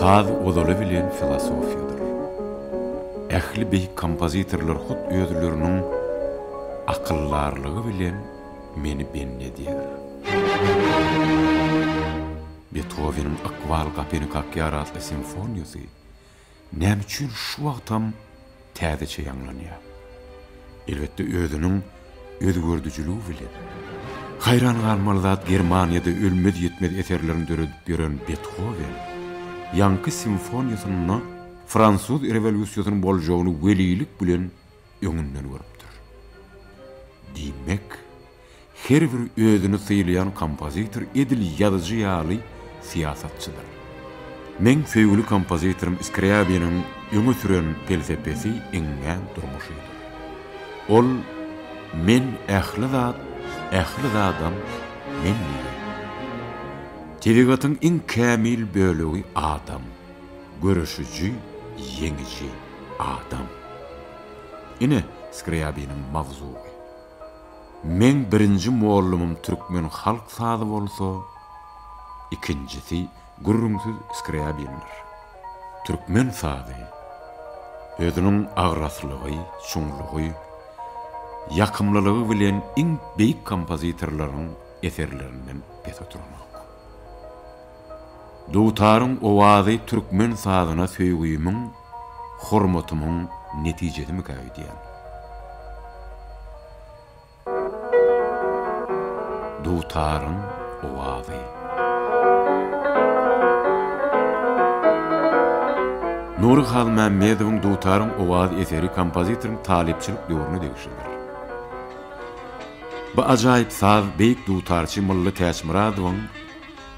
Saz ozaly bilen filosofiýadyr. Ähli beýik kompozitorlar hut özleriniň akyldarlygy bilen meni bendi edýär. Betoweniň Ykbal gapyny kakýar atly simfoniýasy Näme üçin şu wagtam täzeçe ýaňlanýar? Elbetde özüniň özgerdijiligi bilen. Haýran galmaly zat Germaniýada ölmez-ýitmez eserlerini döredip ýören Bethowen, ýaňky simfoniýasynda fransuz rewolýusiýasynyň boljagyny welilik bilen öňünden görüpdir. Diýmek. Her bir özüni sylaýan kompozitor edil ýazyjy ýaly syýasatçydyr. Meň söýgüli kompozitorym Skrýabiniň öňe süren pelsepesi iňňän durmuşydyr. Ol Men ähli zat, ähli zadam men diýýär. Tebigatyň iň kämil bölegi adam, göreşiji, ýeňiji, adam. Ine, Skrýabiniň mawzugy. Meň birinji mollumym türkmen halk sazy bolsa, ikinjisi gürrüňsiz Skrýabindir. Türkmen sazy, özüniň agraslygy, çuňlugy, ýakymlylygy bilen iň beýik kompozitorlaryň eserlerinden pes oturanok. Dutaryň owazy türkmen sazyna söýgümiň hormatymyň netijesimikä öýdýän. Dutaryň owazy. Nury Halmämmedowyň Dutaryň owazy eseri kompozitoryň talypçylyk döwrüne degişlidir. Bu ajaýyp saz beýik dutarçy Mylly Täçmyradowyň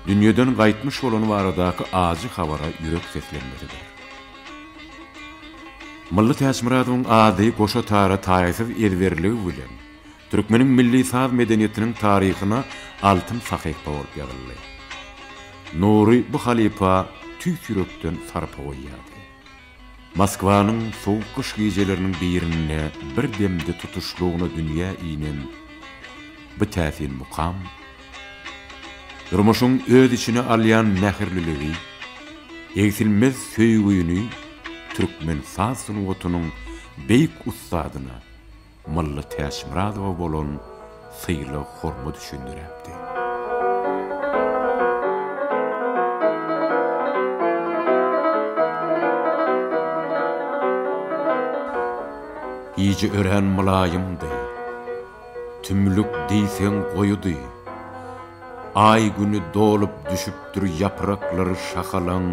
dünýeden gaýtmyş bolany baradaky ajy habara ýürek seslenmesidir. Mylly Täçmyradowyň ady goşa tara taýsyz ezberligi bilen türkmeniň milli saz medeniýetiniň taryhyna altyn sahypa bolup ýazyldy. Nury bu halypa tüýs ýürekden sarpa goýýardy. Moskwanyň sowuk gyş gijeleriniň birinde bir demde tutuşlygyna dünýä inen bu täsin mukam, Durmuşyň öz içine alýan mähirliligi, egsilmez söýgüni türkmen saz sungatynyň beýik ussadyna Mylly Täçmyradowa bolan sylag-hormat üçin döräpdi. Gije örän mylaýymdy. Tümlük diýseň goýudy. Aý-güni dolup düşüpdir ýapraklary şahalaň,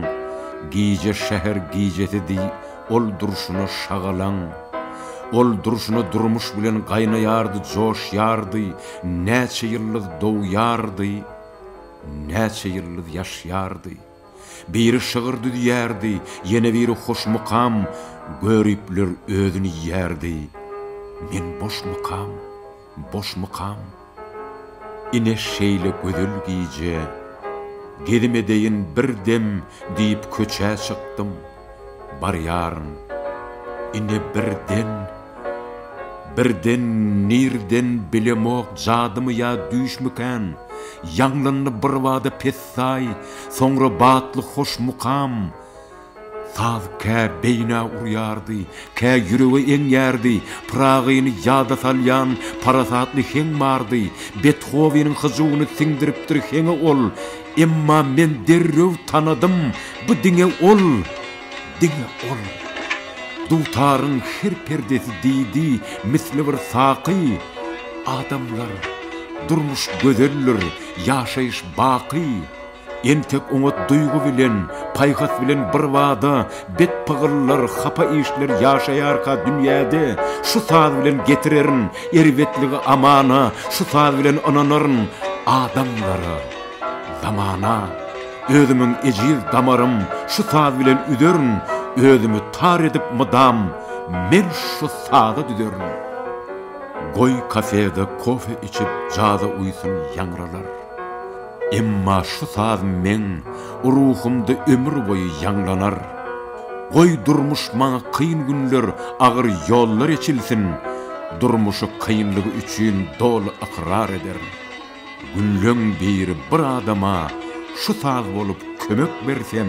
Gije şäher gijesi diý, ol durşuna şagalaň. Ol durşuna durmuş bilen gaýnaýardy, joşýardy, Näçe ýyldyz dogýardy, näçe ýyldyz ýaşýardy. Biri şygyr düzýärdi, ýene biri hoş mukam, Göripler özün iýýärdi, men boş mukam, boş mukam. Ine şeýle gözel gije, gezim edeýin bir dem diýip köçä çykdym. barýaryn. Ine birden, birden nirden bilemok jadymy ýa düýşmikän, ýaňlandy birbada pessaý, soňra batly hoş mukam. Saz kä beýnä urýardy, kä ýürege eňýärdi, Pyragyny ýada salýan parasatly heň bardy, Bethoweniň hyjuwyny siňdiripdir heňe ol, Emma men derrew tanadym, bu diňe ol, diňe ol. Dutaryň her perdesi diýdi, misli bir saky, Adamlar, durmuş gözeldir, ýaşaýyş baky. Entek oňat duýgy bilen, paýhas bilen birbada bet pygyllar, hapa işler ýaşaýarka dünýäde, şu saz bilen getirerin erbetligi amana, şu saz bilen ynanaryn adamlara. Zamana, özümiň ejiz damarym Şu saz bilen üzerin, Özümi tar edip mydam Men şu saza düzerin. Goý kafede kofe içip Jaza uýsun ýaňralar. Emma şu saz meň Ruhumda ömür boýy ýaňlanar. Goý durmuş maňa kyn günler Agyr ýollar eçilsin, Durmuşy kynlygy üçin Doly ykrar ederin. Gülleň biri bir adama şu saz bolup kömek bersem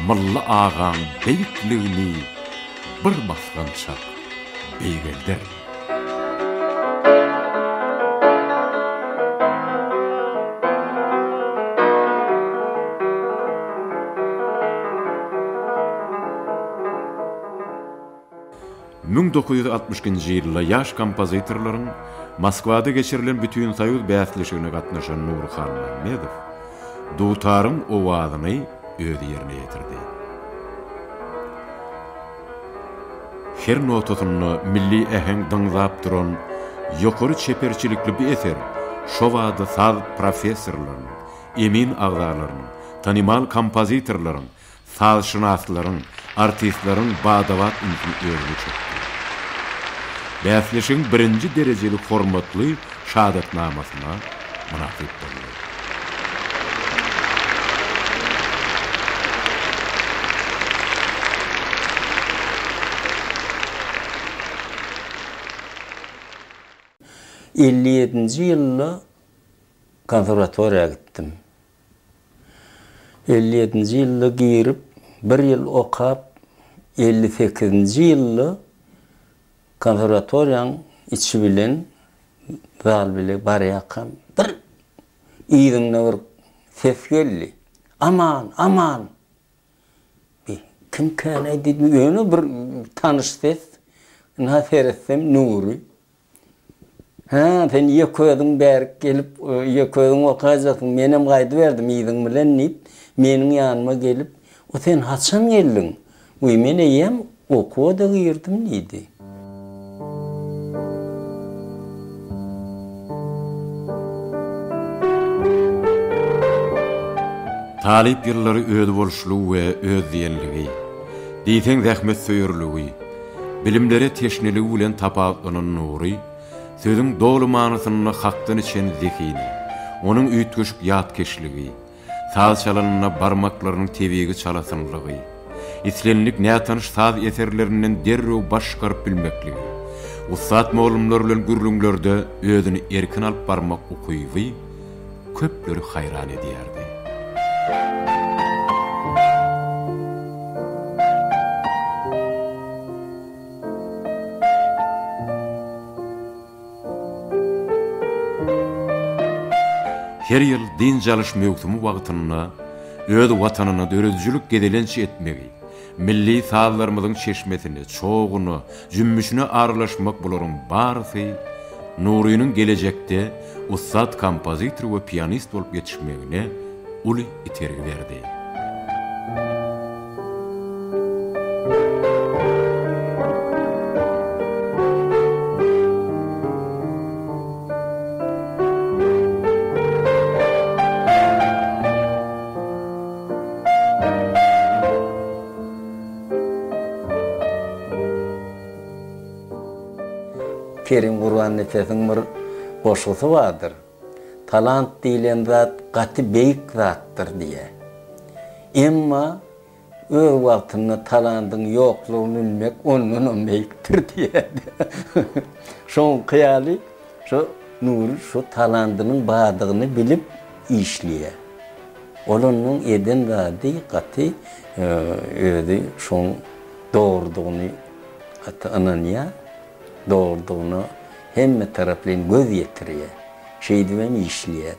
Mylly agaň beýikligini bir basgançak beýgelder. Müň dokuz ýüz altmyş ikinji ýylda ýaş kompozitorlaryň Moskwada geçirilen Bütinsoýuz bäsleşigine gatnaşan Nury Halmämmedow dutaryň owazyny özi ýerine ýetirdi. Her notasynda milli äheň dyňzap duran ýokary çeperçilikli bu eser şo bada saz professorlarynyň, emin agzalarynyň, tanymal kompozitorlaryň Sazşynaslaryň, artistleriň bada-bat ünsi özüne çekdi. Bäsleşigiň birinji derejeli hormatly şahadatnamasyna mynasyp boldy. Elli ýedinji ýylda konserwatoriýa gitdim. Elli ýedinji ýylda girip, bir ýyl okap, elli sekizinji ýylda konserwatoriýanyň içi bilen zal bile barýarkam, bir yzynda bir ses geldi, Aman, Aman! Diýip, kimkäni diýdim, ýöne bir tanyş ses. Ynha, seretsem, Nury. Hä, sen ýeköziň bärik gelip, ýeköziň otaýjaksyň, menem gaýdyberdim yzyň bilen diýip, meniň ýanyma gelip, O sen haçan geldiň? Wiý, men eýýäm okuwa-da girdim diýdi. Talyp ýyllary özboluşly we özdiýenligi, diýseň zähmetsöýerligi, bilimlere teşneligi bilen tapawutlanan Nury, sözüň doly manysynda hakdan içen zehini, onuň üýtgeşik ýatkeşligi, saz çalanynda barmaklarynyň tebigy çalasynlygy, islendik nätanyş saz eserlerinden derrew baş çykaryp bilmekligi, ussat mollumlar bilen gürrüňlerde özüni erkin alyp barmak ukyby köpleri haýran edýärdi. Her ýyl dynç alyş möwsümi wagtynda öz watanyna döredijilik gezelenç etmegi, Milli sazlarymyzyň çeşmesine, çoguny, jümmüşine aralaşmak bularyň barysy Nurynyň gelejekde ussat kompozitor we pianist bolup ýetişmegine uly itergi berdi. Kerim Gurbannepesiň bir goşgusy bardyr, Talant diýlen zat gaty beýik zatdyr diýýär. Emma öz wagtynda talandyň ýoklugyny bilmek ondanam beýikdir diýýärdi. Şoňky ýaly, şo Nury şo talandynyň bardygyny bilip, işleýär. Ol onuň eden zady gaty özi şoň dogrudygyny gaty ynanýar. Dogrudygyna hemmetaraplaýyn göz ýetirýär. Şeýdibem işleýär.